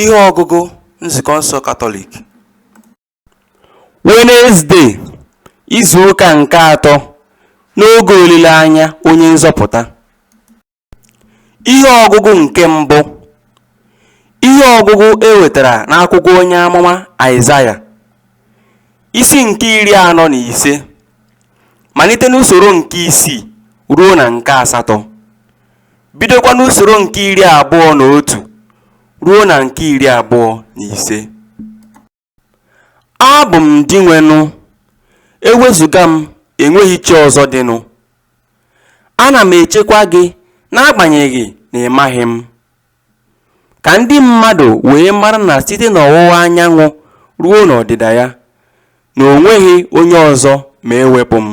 Ihe ọgụgụ Nzukọ nsọ Katọlik Wenezdee, izu ụka nke atọ n'oge olileanya Onye Nzọpụta Ihe ọgụgụ nke mbụ Ihe ọgụgụ e wetara n'akwụkwọ onye amụma Aịzaya isi nke iri anọ na ise malite n'usoro nke isii ruo na nke asatọ bidokwa n'usoro nke iri abụọ na otu ruo na nke iri abụọ na ise abụ m dinwenụ ewezuga m enweghị chi ọzọ dịnụ ana m echekwa gị n'agbanyeghị na ị maghị m ka ndị mmadụ wee mara na site n'ọwụwa anyanwụ ruo n'ọdịda ya na o nweghị onye ọzọ ma ewepụ m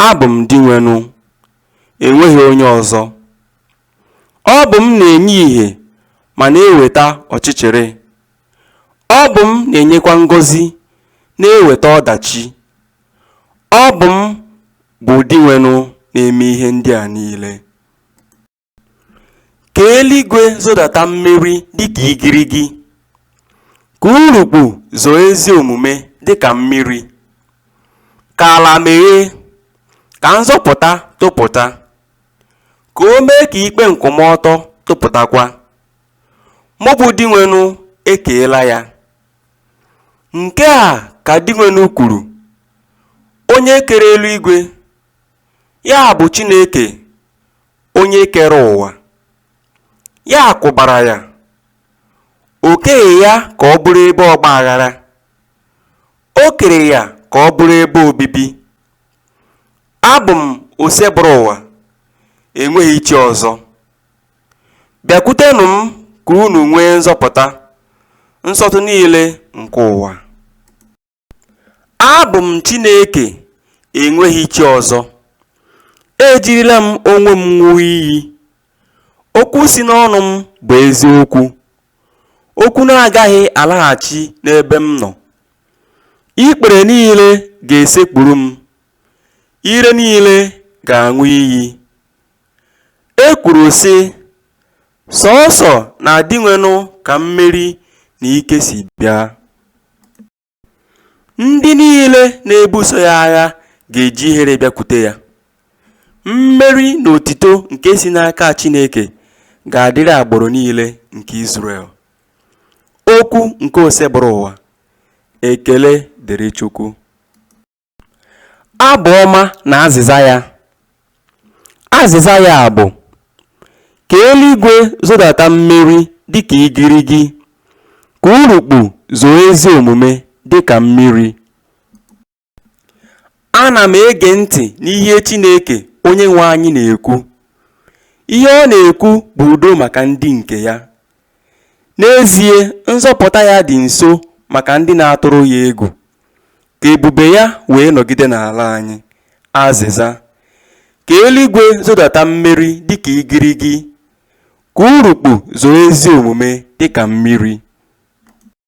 abụ m dinwenụ e nweghị onye ọzọ. Ọ bụ m na-enye ìhè ma na-eweta ọchịchịrị. Ọ bụ m na-enyekwa ngọzi na-eweta ọdachi. Ọ bụ m bụ Dinwenụ na-eme ihe ndị a niile. Ka eluigwe zodata mmeri dịka igirigi. Ka urukpu zoo ezi omume dịka mmiri. Ka ala meghee, ka nzọpụta topụta, ka o mee ka ikpe nkwụmọtọ topụtakwa. Mụ bụ Dinwenụ ekeela ya. Nke a ka Dinwenụ kwuru, Onye kere eluigwe, ya bụ Chineke onye kere ụwa, ya kwụbara ya, o keghị ya ka ọ bụrụ ebe ọgba aghara, O kere ya ka ọ bụrụ ebe obibi. Abụ m Osebụrụwa, enweghị chi ọzọ. Bịakwutenụ m ka unu nwee nzọpụta, nsọtụ niile nke ụwa. Abụ m Chineke, enweghị chi ọzọ. Ejirila m onwe m ṅụọ iyi. Okwu si n'ọnụ m bụ eziokwu. okwu na-agaghị alaghachi n'ebe m nọ. Ikpere niile ga-esekpuru m, ire niile ga-aṅụ iyi. E kwuru sị, Sọọsọ na Dinwenụ ka mmeri na ike si bịa. Ndị niile na-ebuso ya agha ga-eji ihere bịakwute ya. Mmeri na otito nke si n'aka Chineke ga-adịrị agbụrụ niile nke Izrel. Okwu nke Osebụrụwa. Ekele dịrị Chukwu. Abụ ọma na azịza ya. Azịza ya bụ, Ka eluigwe zodata mmeri dịka igirigi, ka urukpu zoo ezi omume dịka mmiri. Ana m ege ntị n'ihe Chineke Onyenwe anyị na-ekwu. Ihe ọ na-ekwu bụ udo maka ndị nke ya. N'ezie, nzọpụta ya dị nso maka ndị na-atụrụ ya egwu. Ka ebube ya wee nọgide n'ala anyị. Azịza. Ka eluigwe zodata mmeri dịka igirigi. Ka urukpu zoo ezi omume dịka mmiri.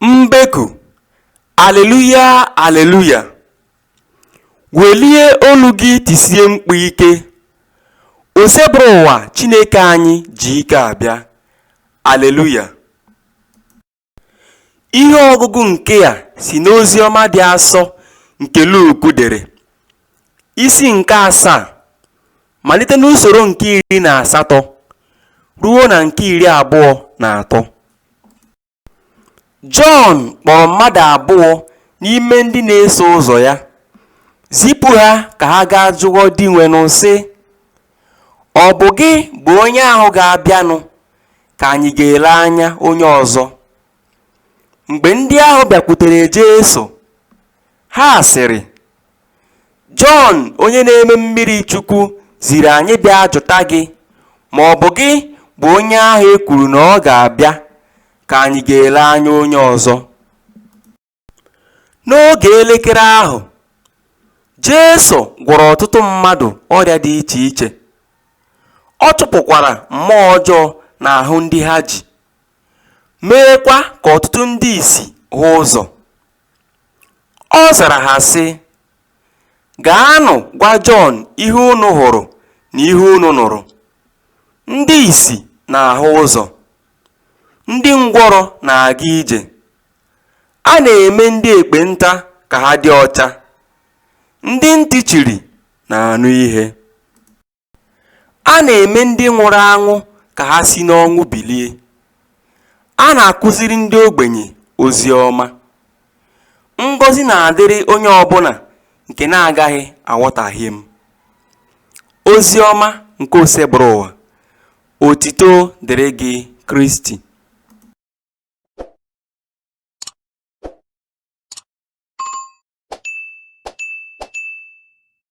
Mbeku, Aleluya, aleluya! Welie olu gị tisie mkpu ike, Osebụrụwa Chineke anyị ji ike abịa, aleluya! Ihe ọgụgụ nke a si n'ozi ọma dị asọ nke Luk dere, isi nke asaa, malite n'usoro nke iri na asatọ ruo na nke iri abụọ na atọ. Jọn kpọrọ mmadụ abụọ n'ime ndị na-eso ụzọ ya, zipụ ha ka ha gaa jụọ Dinwenụ, sị, Ọ bụ gị bụ onye ahụ ga-abịanụ ka anyị ga-ele anya onye ọzọ? Mgbe ndị ahụ bịakwutere Jesu, ha sịrị, Jọn onye na-eme mmiri chukwu ziri anyị bịa jụta gị ma ọ bụ gị bụ onye ahụ e kwuru na ọ ga-abịa ka anyị ga-ele anya onye ọzọ. N'oge elekere ahụ, Jesu gwọrọ ọtụtụ mmadụ ọrịa dị iche iche, ọ chụpụkwara mmụọ ọjọọ n'ahụ ndị ha ji, meekwa ka ọtụtụ ndị ìsì hụ ụzọ. Ọ zara ha sị, Gaanụ gwa Jọn ihe unu hụrụ na ihe unu nụrụ, Ndị ìsì na-ahụ ụzọ, ndị ngwọrọ na-aga ije, a na-eme ndị ekpenta ka ha dị ọcha, ndị ntị chiri na-anụ ihe. A na-eme ndị nwụrụ anwụ ka ha si n'ọnwụ bilie. A na-akụziri ndị ogbenye ozi ọma. Ngọzi na-adịrị onye ọbụla nke na-agaghị aghọtahie m. Ozi ọma nke Osebụrụwa, otito dịrị gị Kristi.